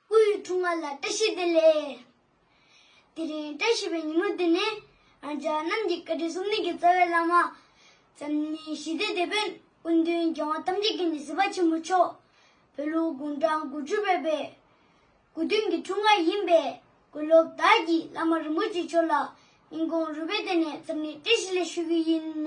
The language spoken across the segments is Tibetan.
སྐུ་ཡི་ཐུགས་མངའ་ལ་བཀྲ་ཤིས་བདེ་ལེགས། དེ་རིང་བཀྲ་ཤིས་པའི་ཉིན་མོ་འདི་ནི་རང་ཅག་རྣམས་ཀྱི་བཀའ་དྲིན་སོམ་ཉི་གི་རྩ་བའི་བླ་མ། འཛམ་གླིང་ཞི་བདེ་དེད་དཔོན་སྐུ་མདུན་རྒྱལ་དབང་ཐམས་ཅད་ཀྱི་ནི་སྲིད་པ་ཆེན་པོ་མཆོག་བོད་ལུགས་དགུང་གྲངས་དགུ་བཅུ་བའི་པའི་དགུ་སྟོན་གྱི་ཐུགས་མངའ་ཡིན་པས་དགེ་སློབ་དག་གིས་བླ་མ་རིན་པོ་ཆེ་མཆོག་ལ་སྙིང་ཁོང་རུས་པས་བརྟེན་ནས་འཛམ་གླིང་བཀྲ་ཤིས་ལེགས་ཞུ་རྒྱུ་ཡིན།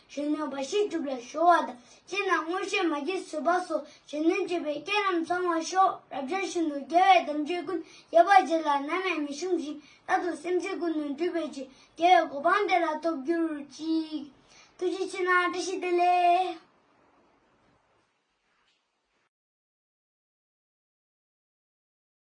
གཞོན་ནུ་འབའ་ཞིག་སྒྲུབ་ལ་གཞོལ་བ་དང་བཅས་ན་མངོན་ཤེས་མ་སྐྱེས་བཟོད་པ་སོགས་གཞོན་ནུ་སྤྱོད་པའི་སྐྱེས་རྣམས་ཚང་བར་ཤོག་རབ་འབྱམས་ཤིན་ཏུ་རྒྱལ་བའི་དམ་ཆོས་ཀུན་རྒྱས་པ་རྗེ་ལ་ནམ་ཡང་མི་ཕྱུང་ཞིང་རྟག་ཏུ་སེམས་ཅན་ཀུན་ནི་འདུས་པའི་རྗེ་རྒྱལ་བའི་གོ་འཕང་དེ་ལ་ཐོབ་གྱུར་ཅིག། ཐུགས་རྗེ་ཆེ་ན་བཀྲ་ཤིས་བདེ་ལེགས།